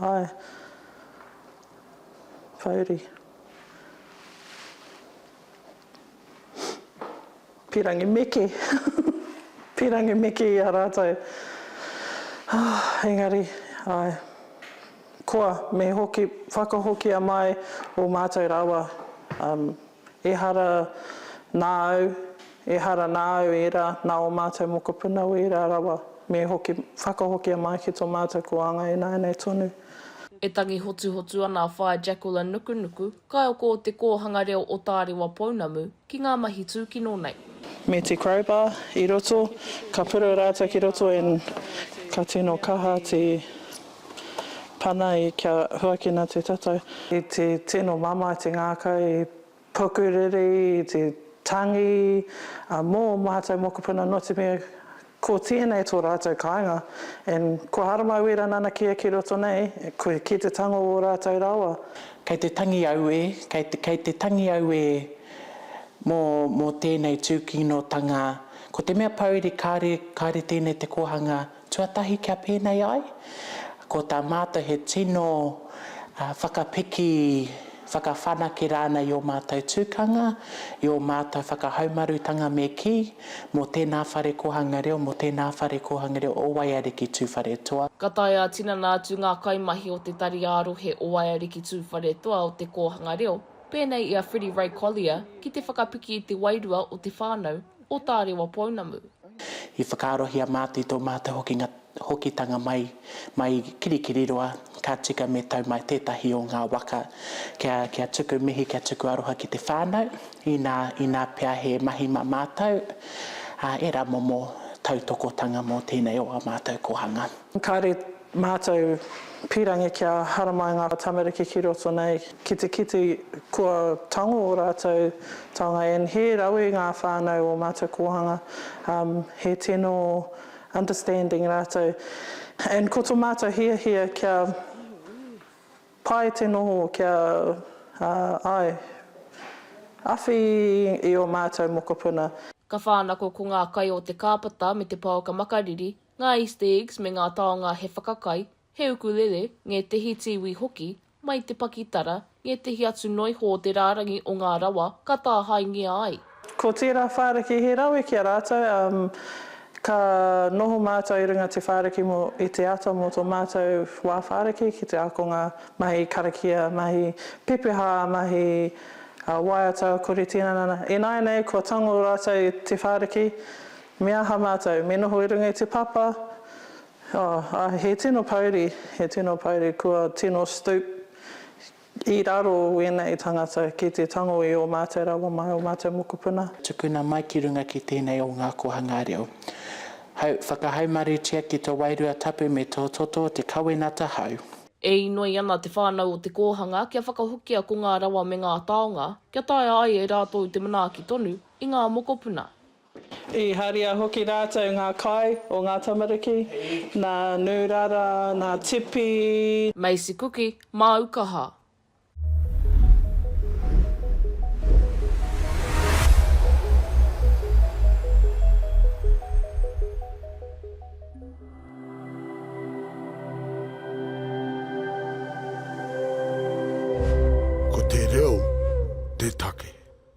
Hi. Pouri. Pirangi meke. Pirangi meke i a ratou. Ahh engari ae. Koa me hoki whakahokia mai o matou rawa umm Ehara nā au, ehara nā au ērā, nā ō mātou mokopuna wērā rawa, me hoki, whakahokia mai ki tō mātou kōanga ināianei tonu. E tangi hotuhotu ana a Whaea Jacqueline Nukunuku, kaioko o Te Kōhanga Reo o Tārewa Pounamu, ki ngā mahi tūkino nei. Me te crowbar i roto, ka pura rātou ki roto and ka tino kaha te. Pana ai kia huakina te tatau. I te tino mama, i te ngākau, i puku riri, i te tangi, ā, mō ō mātou mokopuna nō te mea ko tēnei tō rātou kāinga and kua haramai wera nanakia ki roto nei, ki te tango o rātou rawa. Kei te tangi auē, kei te, kei te tangi auē mō, mō tēnei tūkinotanga. Ko te mea pouri kāre, kāre tēnei te kōhanga. Tuatahi kia pēnei ai, ko tā mātou he tino whakapiki, whakawhanake rānei i ō mātou tukanga, i ō mātou whakahaumarutanga me kī, mō tēnā whare kōhanga reo, mō tēnā whare kōhanga reo o Waiariki Tūwharetoa. Ka taea tinana atu ngā kaimahi o te tari ā-rohe o Waiariki Tūwharetoa o te kōhanga reo, pēnei i a Freddie Ray Collier, ki te whakapiki i te wairua o te whānau, o Tārewa Pounamu. I whakaarohia māti tō mātou hokinga hokitanga mai mai Kirikiriroa, ka tika me tau mai tētahi o ngā waka kia kia tuku mihi kia tuku aroha ki te whānau, inā inā pea he mahi mā mātou, ā, ērā momo tautokotanga mō tēnei o ā mātou kōhanga. Kāre mātou pīrangi kia haramai ngā tamariki ki roto nei ki te kite kua tango ō rātou taonga and he rawe ngā whānau o mātou kōhanga, he tino understanding rātou and ko tō mātou hiahia kia pai te noho kia ai awhi i ō mātou mokopuna. Ka whānako ko ngā kai o te kāpata me te paoka makariri, ngā Easter eggs me ngā taonga he whakakai, he ukulele, ngētehi tīwī hoki, mai te pakitara, ngētehi atu noiho o te rārangi o ngā rawa ka tāhaengia ai. Ko tērā whāriki he rawe ki a rātou, ā, ka noho mātou i runga te whāriki mō, i te ata mō tō mātou wā whāriki ki te ākonga mahi karakia, mahi pepeha, mahi waiata, kore tinana, ināianei kua tango rātou i te whāriki, Me aha mātou, me noho i runga i te papa? Oh, a, he tino pouri, he tino pouri, kua tino stoop i raro wēnei tangata ki te tango i ō mātou rawa mai, ō mātou mokopuna. Tukuna mai ki runga ki tēnei o ngā kōhangā reo. Hau, whakahaumarutia ki to wairua tapu me tō toto o te kawenata hau. E inoi ana te whānau o te kōhanga kia whakahokia ko ngā rawa me ngā taonga, kia taea ai e rātou te manaaki tonu i ngā mokopuna. I haria hoki rātou ngā kai o ngā tamariki, nā Nūrara, nā Tipi. Macy Kuki, māu kaha. Ko te reo te take.